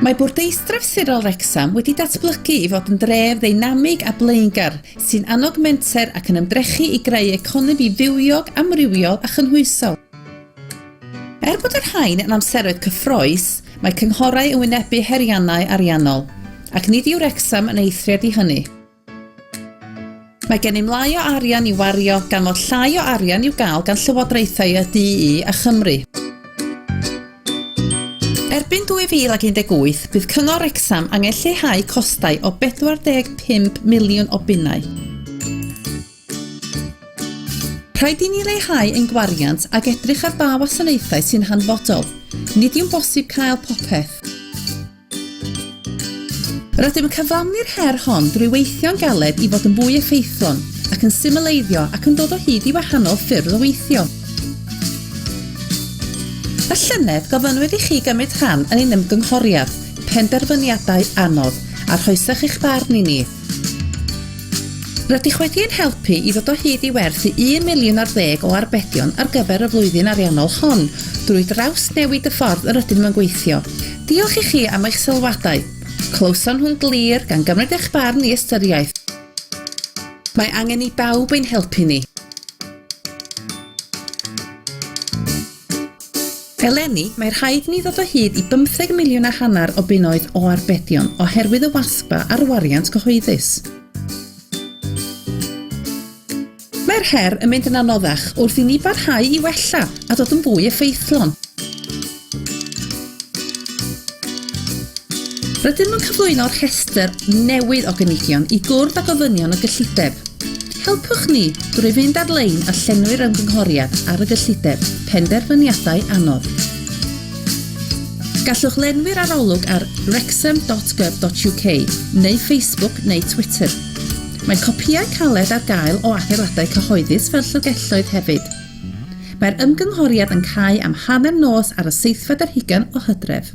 Mae Bwrdeistref Sirol Wrecsam wedi datblygu i fod yn dref ddeinamig a blaengar, sy'n annog menter ac yn ymdrechu i greu economi fywiog, amrywiol a chynhwysol. Er bod y rhain yn amseroedd cyffrous, mae cynghorau yn wynebu heriannau ariannol, ac nid yw Wrecsam yn eithriad i hynny. Mae gennym lai o arian i wario gan fod llai o arian i'w gael gan llywodraethau y du a Chymru. Erbyn 2018, bydd Cyngor Wrecsam angen lleihau costau o 45 miliwn o bunnau. Rhaid i ni leihau ein gwariant ac edrych ar ba wasanaethau sy'n hanfodol. Nid yw'n bosib cael popeth. Rydym yn cyflawni'r her hon drwy weithio'n galed i fod yn fwy effeithlon ac yn symleiddio ac yn dod o hyd i wahanol ffyrdd o weithio. Y llynedd, gofynnwyd i chi gymryd rhan yn ein ymgynghoriad, Penderfyniadau Anodd, a rhoesech eich barn i ni. Rydych wedi ein helpu i ddod o hyd i werth i un miliwn ar ddeg o arbedion ar gyfer y flwyddyn ariannol hon drwy drawsnewid y ffordd yr ydym yn gweithio, Diolch i chi am eich sylwadau. Clywson nhw'n glir, gan gymryd eich barn i ystyriaeth. Mae angen i bawb ein helpu ni. Eleni, mae rhaid i ni ddod o hyd i bymtheg miliwn a hanner o bunnoedd o arbedion oherwydd y WASPA a'r wariant cyhoeddus. Mae'r her yn mynd yn anoddach wrth i ni barhau i wella a dod yn fwy effeithlon. Rydym yn cyflwyno rhestr newydd o gynigion i gwrdd â gofynion y gyllideb. Helpwch ni drwy fynd ar-lein a llenwi'r ymgynghoriad ar y gyllideb Penderfyniadau Anodd. Gallwch lenwi'r arolwg ar wrexham.gov.uk neu Facebook neu Twitter. Mae copïau caled ar gael o adeiladau cyhoeddus fel llyfrgelloedd hefyd. Mae'r ymgynghoriad yn cau am hanner nos ar y seithfed ar hugain o Hydref.